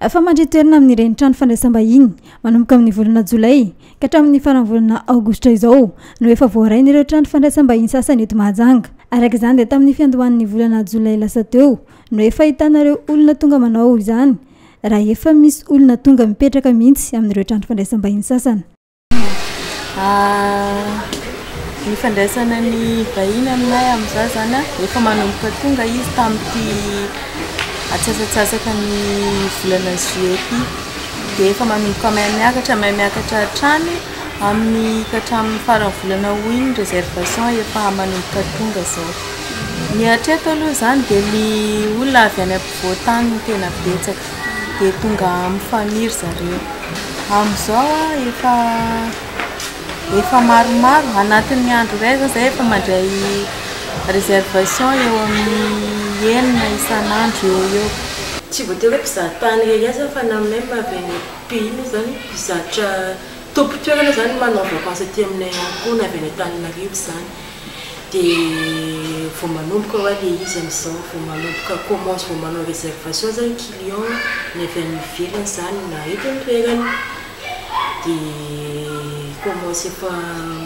Efa mandry toerana amin'ireny trano fandraisam-bahiny manomboka amin'ny volana Jolay ka hatramin'ny faran'ny volana Aogositra izao no efa voarainy ireo trano fandraisam-bahiny sasany eto Mahajanga. Araka izany dia tamin'ny fiandohan'ny volana Jolay lasa teo no efa ahitana ireo olona tonga manao izany raha efa misy olona tonga mipetraka mihitsy amin'ireo trano fandraisam-bahiny sasany. Ny ifandraisana ny vahiny aminay amin'izao izany an, efa manomboka tonga izy tamin'ity atsasatsasaky ny volana juillet ity, dia efa manomboka mahay miakatra, mahay miakatra hatrany amin'ny ka hatramin'ny faran'ny volana aout iny ny réservation efa manomboka tonga izao. Ny hatreto aloha izany dia ny olona avy any ampovoan-tany no tena betsaka. dia tonga amin'ny faniry zareo. Amin'izao efa efa maromaro, anatin'ny andro iray izao izahay efa mandray réservation eo amin'ny enina isan'andro eo ho eo. Tsy voatery hoe mpizaha tany irery ihany izany fa na même avy any pays mihitsy izany, mpizaha tompon-toerana izany manao vacance aty aminay ihany koa na avy any Antananarivo izany. dia vao manomboka hoa le izy amizao vao manomboka commence vao manao reservation zany client ny avy any ivelany zany na eto antoerana dia commence efa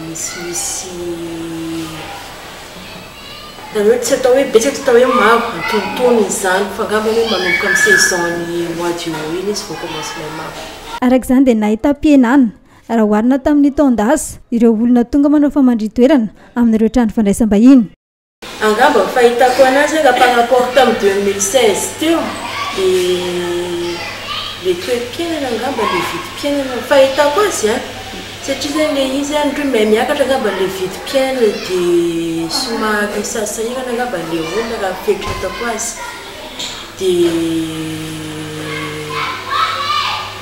misimisy zany hoe tsy atao hoe betsaka tsy atao hoe maro antonontonony izany fa angamba hoe manomboka am saison ny mois de aout iny izy vao commence ilay maro. Araka izany dia nahitam-pihenana raha oharina tamin'ny taon-dasa, ireo olona tonga manao famandrin-toerana amin'ireo trano fandraisam-bahiny. Angamba ny fahitako anazy raha par rapport tamin'ny deux mille seize teo dia le toeram-piainana angamba le vidim-piainana no fahitako azy an! satria zany le izy an ndry mahay miakatra angamba le vidim-piainana dia somary sahasahirana angamba le olona raha ny fieritreretako azy dia